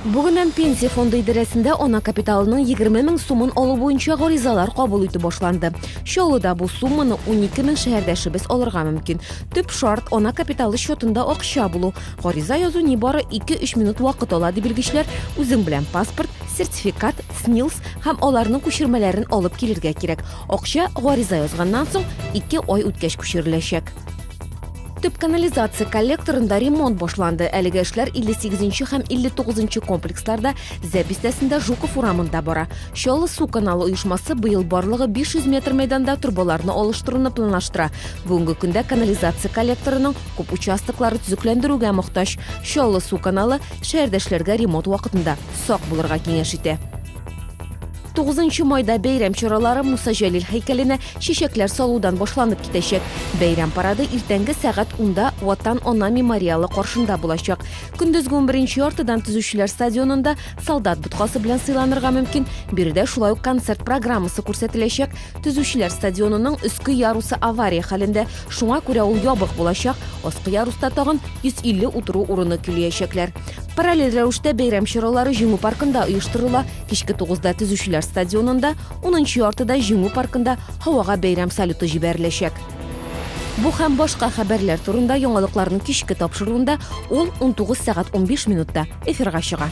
Бүгеннән Пенсия фонды идарәсендә ана капиталының 20 мең сумын алу буенча гаризалар кабул итү башланды. Чаллыда бу сумманы 12 мең шәһәрдәшебез алырга мөмкин. Төп шарт ана капиталы счетында акча булу. Гариза язу нибары 2-3 минут вакыт ала, ди белгечләр. Үзең белән паспорт, сертификат, СНИЛС һәм аларның күчермәләрен алып килергә кирәк. Акча гариза язганнан соң 2 ай үткәч күчереләчәк. Төп канализация коллекторында ремонт башланды. Әлеге эшләр 58 һәм 59 комплексларда, Зәп бистәсендә, Жуков урамында бара. Чаллы су каналы оешмасы быел барлыгы 500 метр мәйданда торбаларны алыштыруны планлаштыра. Бүгенге көндә канализация коллекторының күп участоклары төзекләндерүгә мохтаҗ. Чаллы су каналы шәһәрдәшләргә ремонт вакытында сак булырга киңәш итә. 9 майда бәйрәм чаралары Муса Җәлил һәйкәленә чәчәкләр салудан башланып китәчәк. Бәйрәм парады иртәнге сәгать 10-да Ватан ана мемориалы каршында булачак. Көндезге 11 яртыдан төзүчеләр стадионында солдат боткасы белән сыйланырга мөмкин. Биредә шулай ук концерт программасы күрсәтеләчәк. Төзүчеләр стадионының өске ярусы авария хәлендә, шуңа күрә ул ябык булачак. Аскы яруста тагын 150 утыру урыны көйләячәкләр. Параллель рәвештә бәйрәм чаралары Җиңү паркында оештырыла. Кичке 9-да төзүчеләр стадионында, 10-нчы яртыда Җиңү паркында һавага бәйрәм салюты җибәреләчәк. Бу һәм башка хәбәрләр турында яңалыкларның кичке тапшыруында ул 19 сәгать 15 минутта эфирга чыга.